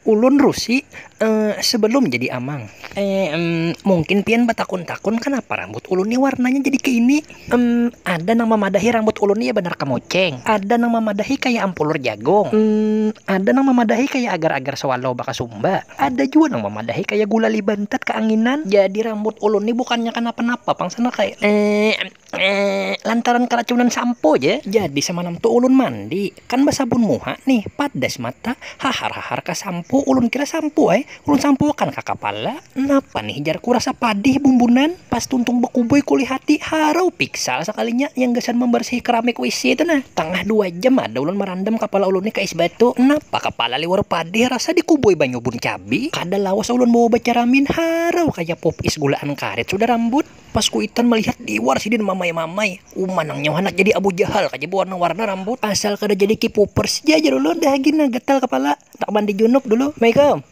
Ulun Rusi, eh, sebelum jadi amang. Eh, mungkin pian batakun-takun kanapa rambut ulun ni warnanya jadi kaya ini? Emm, ada nang mamadahi rambut ulun ni ya banar kamuceng, ada nang mamadahi kaya ampulur jagung, emm, ada nang mamadahi kaya agar-agar swallow bakasumba, ada jua nang mamadahi kaya gulali bantat kaanginan. Jadi rambut ulun ni bukannya kanapa-napa pang sanak ai. Eh, Eeeeh lantaran karacunan sampo ja jadi samalam tu ulun mandi kan basabun muha nih padas mata hahar hahar ka sampo ulun kira sampo ai ulun sampo akan ka kapala napa nih jar ku rasa padih bumbunan pas tuntung bakubai kulihati harau piksal sakalinya yang gasan mambarsihi keramik wc tu nah tangah dua jam ada ulun marandam kapala ulun nih ka es batu napa kapala liwar padih rasa di kubai banyu bun cabi kada lawas ulun bawa bacaramin harau kaya pop is gulaan karet sudah rambut. Pas kuitan malihat diwar sidin mamai-mamai, uma nang nyawa handak jadi Abu Jahal ka ja bawarna-warna rambut, asal kada jadi K-popers ja jar ulun dah gina gatal kapala handak mandi junub dulu. Maikam.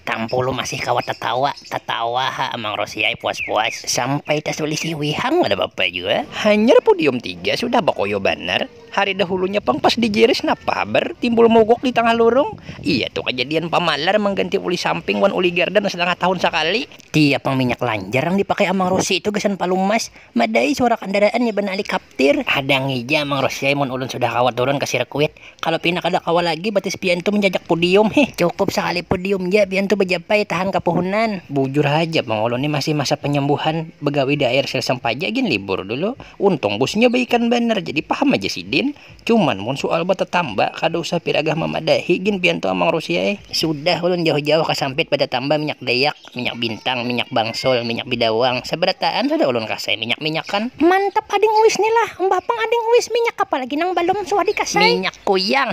Tampulu masih kawa tatawa, tatawa ha Amang Rosi ai puas-puas, sampai tasulih siwi hang kada papa jua. Hanyar pudium tiga sudah bakoyo banar. Hari dahulunya pang pas dijiris napa habar timbul mogok di tangah lurung? Iya tu kajadian pamalar mangganti uli samping wan uli gardan satangah tahun sakali. Tiap pang minyak lanjar nang dipakai Amang Rosi tu gasan palumas. Madai suara kandaraan iban alikaptir. Hadangi ja Amang Rosi ai mun ulun sudah kawa turun ka sirkuit. Kalo pina kada kawa lagi batis pian tu manjajak pudium hih. Cukup sakali pudium ja pian tu bajapai tahan ka puhunan. Bujur haja pang ulun ni masih masa panyambuhan bagawi di AIR Sel Sampaja gin libur dulu. Untung busnya baikan banar jadi paham aja sidin. Cuman mun sual batatamba kada usah piragah mamadahi gin pian tu Amang Rusia ai. Sudah ulun jauh-jauh kasampit batatamba minyak dayak, minyak bintang, minyak bangsul, minyak bidawang, sabarataan sudah ulun kasai minyak-minyakan. Mantap ading uis ni lah. Mbah pang ading uis minyak apa lagi nang balum suah dikasai. Minyak kuyang.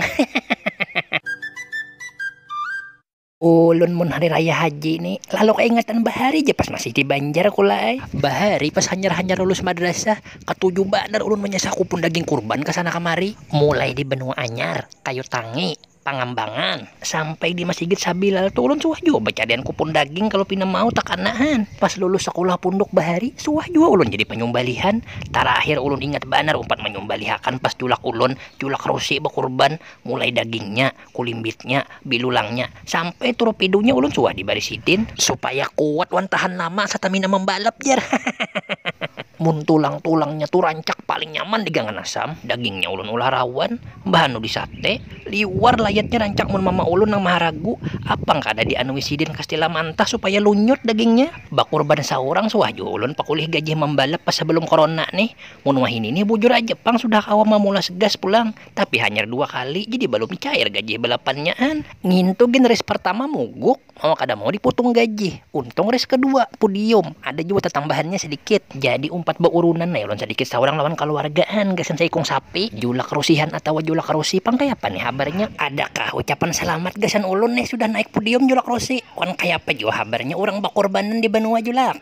Ulun mun hari raya haji ni lalu kaingatan bahari ja pas masih di banjar kula ai. Bahari pas hanyar-hanyar lulus madrasah katuju banar ulun manyasah kupun daging kurban kasana kamari. Mulai di benua anyar, kayu tangi, pangambangan, sampai di masigit sabilal tu ulun suah jua bacadian kupun daging kalu pina mau takana han. Pas lulus sakulah punduk bahari suah jua ulun jadi panyumbalihan. Tarakhir ulun ingat banar umpat manyumbalihakan pas julak ulun, julak rusi bakurban, mulai dagingnya, kulimbitnya, bilulangnya, sampai turupidunya ulun suah dibari sidin. Supaya kuat wan tahan lama satamina mambalap jar. Mun tulang-tulangnya tu rancak paling nyaman digangan asam, dagingnya ulun ulah rawan, bahanu disate, liwar layatnya rancak mun mama ulun nang maharagu, apang kada dianui sidin kastila mantah supaya lunyut dagingnya. Bakurban saurang suah jua ulun pakulih gajih mambalap pas sabalum korona nih. Mun wahini nih bujur aja pang sudah kawa mamulas gas pulang, Tapi hanyar dua kali jadi balum cair gajih balapannya an. Ngintu gin race partama muguk, mawa kada mau diputung gajih. Untung race kadua, pudium, ada jua tatambahannya sadikit. Jadi umpat baurunan ai ulun sadikit saurang lawan kaluarga an gasan saikung sapi, julak rusihan atawa julak rusi pang kayapa nih habarnya. Adakah ucapan salamat gasan ulun nih sudah naik pudium julak rusi? Wan kayapa jua habarnya urang bakurbanan di banua julak?